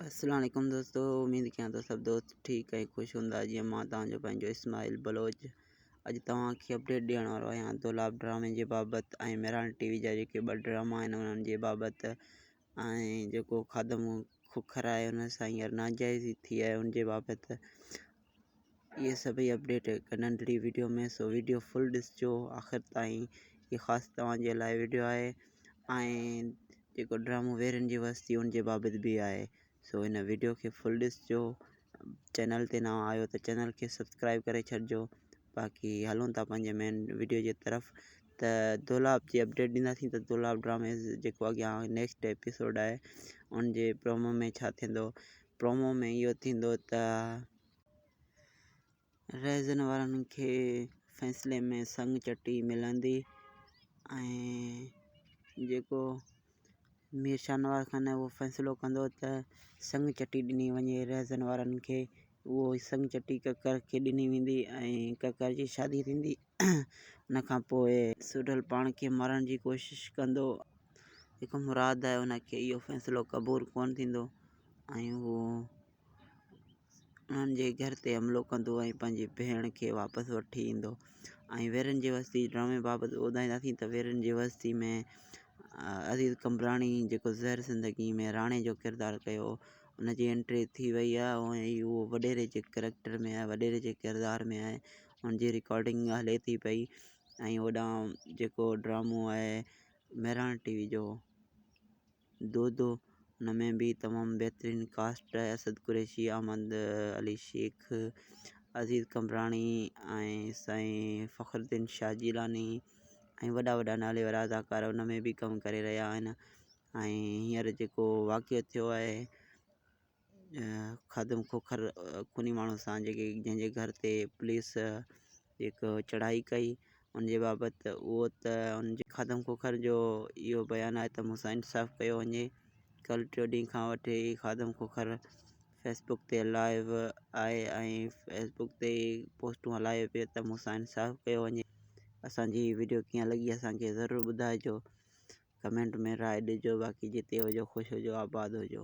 اسلام عليڪم دوستو اميد ڪيان ٿو سڀ دوست ٺيڪ ۽ خوش هوندا جيئن مان توهان جو پنهنجو اسماعيل بلوچ اڄ توهان کي اپڊيٽ ڏيڻ وارو آهيان دولاب ڊرامي جي بابت ۽ مهراڻ ٽي وي جا جيڪي ٻه ڊراما آهن انهن جي بابت ۽ جيڪو خادم کوکر آهي ان سان هينئر ناجائزي ٿي آهي ان جي بابت اهي سڀئي اپڊيٽ هڪ ننڍڙي وڊيو ۾ سو وڊيو فل ڏسجو آخر تائين هي خاص توهان جي لاء وڊيو آهي ۽ جيڪو ڊرامو ويرين جي وستي ان جي بابت به آهي سو هن وڊيو کي فل ڏسجو چينل تي نوان آهيو ته چينل کي سبسڪرائب ڪري ڇڏجو باقي هلون ٿا پنهنجي مين وڊيو جي طرف ته دولاب جي اپڊيٽ ڏينداسين ته دولاب ڊرامي جيڪو اڳيان نيڪسٽ ايپيسوڊ آهي ان جي پرومو ۾ ڇا ٿيندو پرومو ۾ اهو ٿيندو ته رهزن وارن کي فيصلي ۾ سڱ چٽي ملندي ۽ جيڪو مير شاهنواز خان آهي اهو فيصلو ڪندو ته سڱ چٽي ڏني وڃي رهزن وارن کي اهو ئي سڱ چٽي ڪڪر کي ڏني ويندي ۽ ڪڪر جي شادي ٿيندي ان کان پوء سوڍل پاڻ کي مارڻ جي ڪوشش ڪندو جيڪو مراد آهي ان کي اهو فيصلو قبول ڪونه ٿيندو ۽ هو انهن جي گهر تي حملو ڪندو ۽ پنهنجي ڀيڻ کي واپس وٺي ايندو ۽ ويرين جي وستي جي ڊرامي بابت ٻڌائينداسين ته ويرين جي وستي ۾ عزيز قمبراڻي جيڪو زهر زندگي ۾ راڻي جو ڪردار ڪيو ان جي انٽري ٿي وئي آهي ۽ اهو وڏيري جي ڪريڪٽر ۾ آهي وڏيري جي ڪردار ۾ آهي ان جي رڪارڊنگ هلي ٿي پئي ۽ هوڏانهن جيڪو ڊرامو آهي مهراڻ ٽي وي جو دودو ان ۾ به تمام بهترين ڪاسٽ آهي اسد قريشي احمد علي شيخ عزيز قمبراڻي ۽ سائين فخر الدين شاھ جيلاني ۽ وڏا وڏا نالي وارا اداڪار ان ۾ به ڪم ڪري رهيا آهن ۽ هينئر جيڪو واقعو ٿيو آهي خادم کوکر خوني ماڻهو سان جيڪي جنهن جي گهر تي پوليس هڪ چڙهائي ڪئي ان جي بابت اهو ته ان جي خادم کوکر جو اهو بيان آهي ته مون سان انصاف ڪيو وڃي ڪل ٽيو ڏينهن کان وٺي هي خادم کوکر فيسبوڪ تي لائيو آهي ۽ فيسبوڪ تي پوسٽون هلائي پيو ته مون سان انصاف ڪيو وڃي اسانجي هي وڊيو ڪيئن لڳي اسانکي ضرور ٻڌائجو ڪمينٽ ۾ راء ڏجو باقي جتي هجو خوش هجو آباد هجو